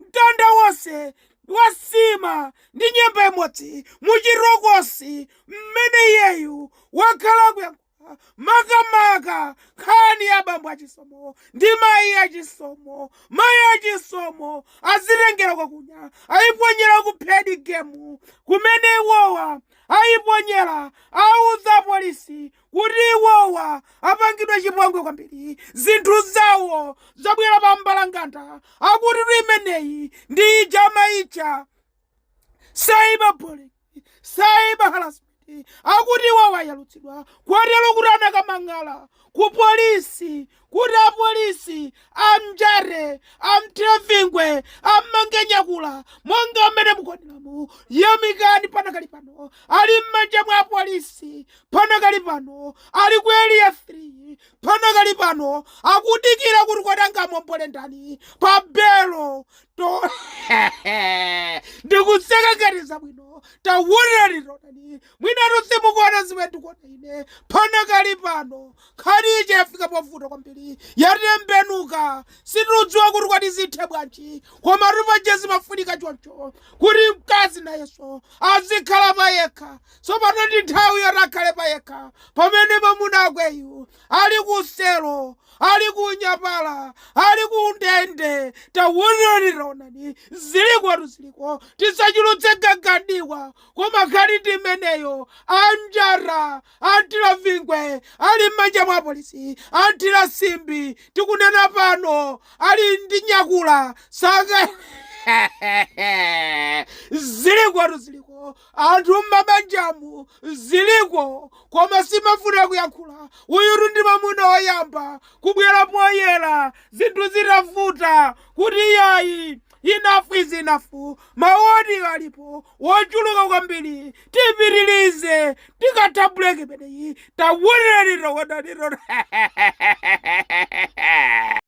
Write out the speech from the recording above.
Mtanda wonse wa nsima ndi nyemba imodzi mu chitokosi mmene iyeyu wakhala akuyankhula maka maka nkhani ya bambo a Chisomo ndi mayi a Chisomo. Mayi a Chisomo azitengera kwakunja ayiponyera ku third game kumene iwowa ayiponyera awuza apolisi kuti iwowa apangidwa chipongwe kwambiri zinthu zawo zabwera pa mbalanganda akutitu imeneyi ndi ija amatcha cyberbullying cyber harassment akuti iwowa ayalutsidwa kotero kuti anakamang'ala ku polisi kuti apolisi amnjate, amthire vingwe, ammange nyakula monga mmene mukuoneramu. Yamikani panakali pano ali m'manja mwa apolisi, panakali pano ali ku area 3, panakali pano akudikira kuti kodi angamuombole ndani pa belo ndikuseka ngati zabwino tawonani tawonani mwinatu simukuona zimene ndikuona ine panakali pano Nkhani ija yafika povuta kwambiri, yatembenuka, sitikudziwa kuti kodi zithe bwanji, komatu paja zimafunika choncho kuti mkazi nayenso azikhala payekha. Tsopano ndi nthawi yoti akhale payekha pamene mamuna akweyu ali ku selo, ali ku unyapala, ali ku ndende. Taonani, taonani, zilikotu ziliko, tisachulutse gaga m'diwa, koma nkhani ndi imeneyo, anjata Anthira vingwe ali mmanja mwa apolisi. Anthira simbi tikunena pano ali ndi nyakula saka zilikotu ziliko anthu mmabanjamu ziliko koma simufuna kuyankhula. Uyutu ndi mwamuna woyamba kubwera poyera zinthu zitavuta kuti yayi Enough is enough, maoni alipo wochuluka kwambiri, tipitilize tikatha break imeneyi, tawonani, tawonani.